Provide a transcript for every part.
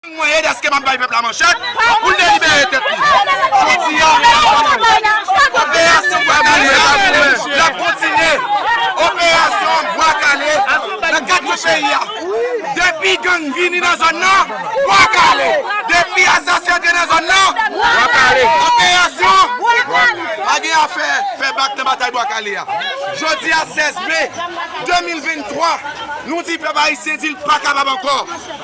Mwen ye deske m ap bay pèp la manchèt pou l delibere tèt li. Jodi a, medam ak mèt mwen, operasyon Bwa Kale a l ap kontinye. Operasyon Bwa Kale nan kat kwen peyi a. Depi gang vini nan zòn nan, Bwa Kale! Depi asasen antre nan zòn nan, Bwa Kale! Operasyon Bwa Kale! Pa gen afè fè bak nan batay Bwa Kale a. Jodi a 16 me 2023, nou di pèp ayisyen di l pa kapab ankò.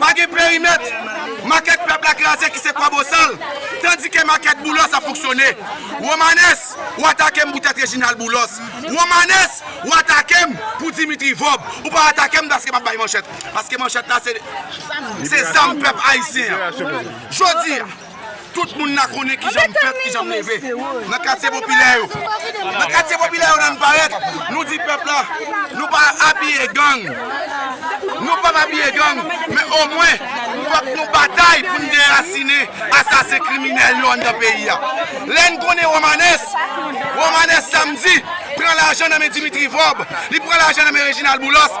Pa gen perimèt, makèt pèp la kraze ki se Kwabosal, tandike makèt Boulos ap fonksyone. Romanes, ou atake m pou tèt Reginald Boulos. Romanes, ou atake m pou Dimitri Vorbe. Ou pa atake m paske m ap bay manchèt. Paske manchèt la se zam pèp ayisyen an. Jodi a. Tout moun la konnen kijan m fèt, kijan m leve. Nan katye popilè yo, nan katye popilè yo lè n parèt, nou di pèp la, nou pa abiye gang, nou pap abiye gang, men omwen fòk nou batay pou n derasine asasen kriminèl yo anndan peyi a. Lè n konnen Romanes, Romanes Samedi pran lajan nan men Dimitri Vorbe, li pran lajan nan men Reginald Boulos,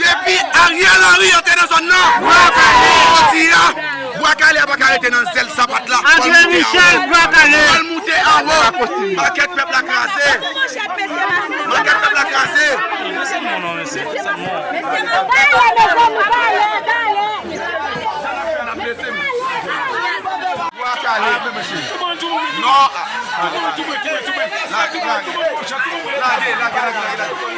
Depi Ariel Henry antre nan zòn nan, bwa kale jodi a, bwa kale a pa ka rete nan zèl sapat la, fò l moute anwo, fò l moute anwo, makèt pèp la kraze, makèt pèp la kraze.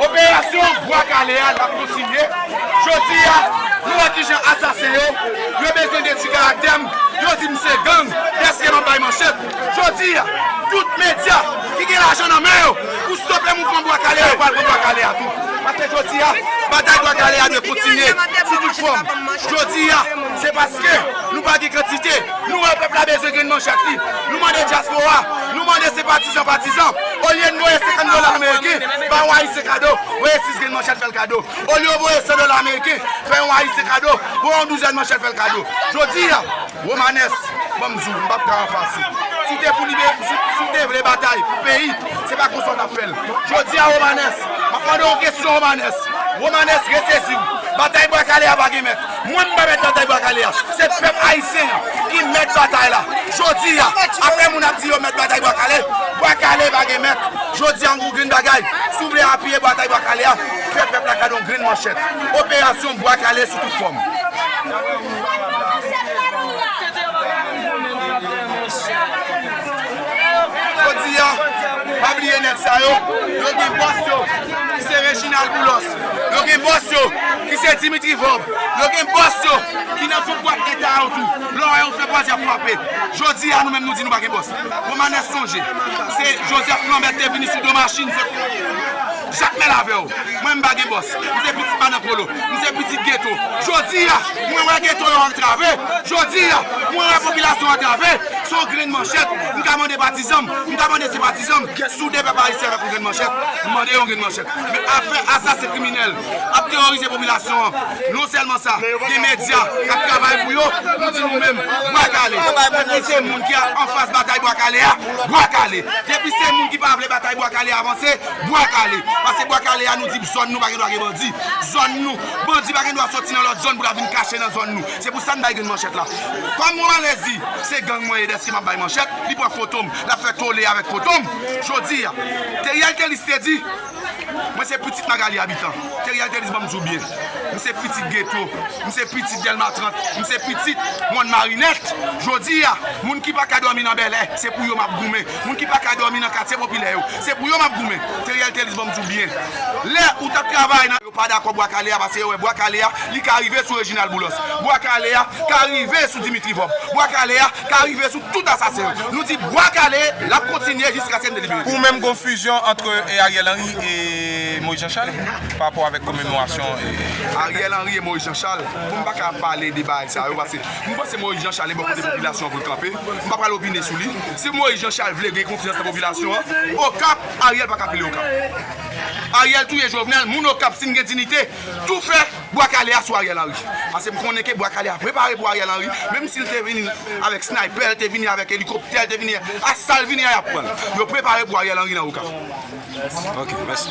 Operasyon Bwa Kale a ap kontinye. Jodi a, nou wè kijan asasen yo, yo bezwen detwi karaktè m, yo di m se gang dèske m ap bay manchèt. Jodi a, tout medya ki gen lajan nan men yo pou stope mouvman Bwa Kale a, yo pral pran Bwa Kale a tou. Paske jodi a, batay Bwa Kale a dwe kontinye sou tout fòm. Jodi a, se paske. Nou pa gen kantite, nou wè pèp la bezwen grenn manje ak li. Nou mande dyaspora, nou mande senpatizan, patizan, olye n voye 50 dola ameriken, bay yon ayisyen kado, voye 6 grenn manchèt fè l kado. Olye w voye 100 dola ameriken, fè yon ayisyen kado, voye yon douzèn manchèt fè l kado. Jodi a, Romanes, ban m di w, m p ap ka anfase w. Si w te pou libere, si w te vle batay pou peyi, se pa konsa w t ap fè l. Jodi a Romanes, m ap mande w yon kesyon Romanes, Romanes, resezi w, batay bwa kale a pa gen mèt. Mwen m pa mèt batay bwa kale a, se pèp ayisyen an ki mèt batay la. Jodi a, apre moun ap di yo mèt batay bwa kale, bwa kale pa gen mèt. Jodi a m pou grenn bagay, si w vle apiye batay bwa kale a, fè pèp la gade yon grenn manchèt. Operasyon bwa kale sou tout fòm. Jodi a, pa bliye nèg sa yo, yo gen bòs yo ki se Reginald Boulos. Yo gen bòs yo ki se Dimitri Vorb. Yo gen bòs yo ki nan tout bwat eta yo tou. Lè w wè yon fè bwaz y ap frape. Jodi a nou menm nou di nou pa gen bòs. Romanès sonje se Joseph Lambert te vini sou do machin se Jakmèl avè w. Mwen menm m pa gen bòs. M se pitit madan Polo. M se pitit geto. Jodi a mwen wè geto yo antrave. Jodi a mwen wè popilasyon antrave. Se yon grenn manchèt m ka mande patizan m. M ka mande senpatizan m. Soude pèp ayisyen avèk yon grenn manchèt. M mande yo yon grenn manchèt. Men afè asasen kriminèl ap teworize popilasyon an. Non sèlman sa, gen medya k ap travay pou yo, nou di nou menm, Bwa kale! Depi se moun ki anfas batay Bwa kale a, Bwa kale! Depi se moun ki pa vle batay Bwa kale a vanse, Bwa kale! Pase Bwa kale a nou di zòn nou pa gen dwa gen bandi. Zòn nou, bandi pa gen dwa soti nan lòt zòn pou l al vin kache nan zòn nou. Se pou sa n bay grenn manchèt la. Kòm Romanès di, se gang mwen ye dèske m ap bay manchèt, li pran foto m, l ap fè tole avèk foto m. Jodi a, Theriel Thelus te di, Mwen se pitit Magalie Habitant. Theriel Thénise banm di w byen. M se pitit Ghetto. M se pitit Delma 30. M se pitit Mòn Marinèt. Jodi a, moun ki pa ka dòmi nan Bèlè, se pou yo m ap goumen. Moun ki pa ka dòmi nan katye popilè yo, se pou yo m ap goumen. Theriel Thénise banm di w byen. Lè ou t ap travay nan. Yo pa dakò Bwa Kale a pase yo wè Bwa Kale a, li ka rive sou Reginald Boulos. Bwa Kale a ka rive sou Dimitri Vorbe. Bwa Kale a. ka rive sou tout asasen yo. Nou di bwa kale l ap kontinye jiskaske n delibere. Pou ou menm gon fizyon antre Ariel Henry e Moïse Jean Charles pa rapò avèk komemorasyon e. Ariel Henry e Moïse Jean Charles? Bon m pa ka pale de bagay sa yo paske m panse Moïse Jean Charles e bò kote popilasyon an pou l kanpe. M pa pral opine sou li. Si Moïse Jean Charles vle gen konfyans nan popilasyon an, Okap, Ariel pa ka pile Okap. Ariel touye Jovenel, moun Okap si n gen dinite tou fè Bwa kale a sou Ariel Henry. Pase m konnen ke bwa kale a prepare pou Ariel Henry, menm si l te vini avèk sniper, l te vini avèk elikoptè, l te vini a sa l vini a y ap pran l. Yo prepare pou Ariel Henry nan Okap. Ok, mèsi.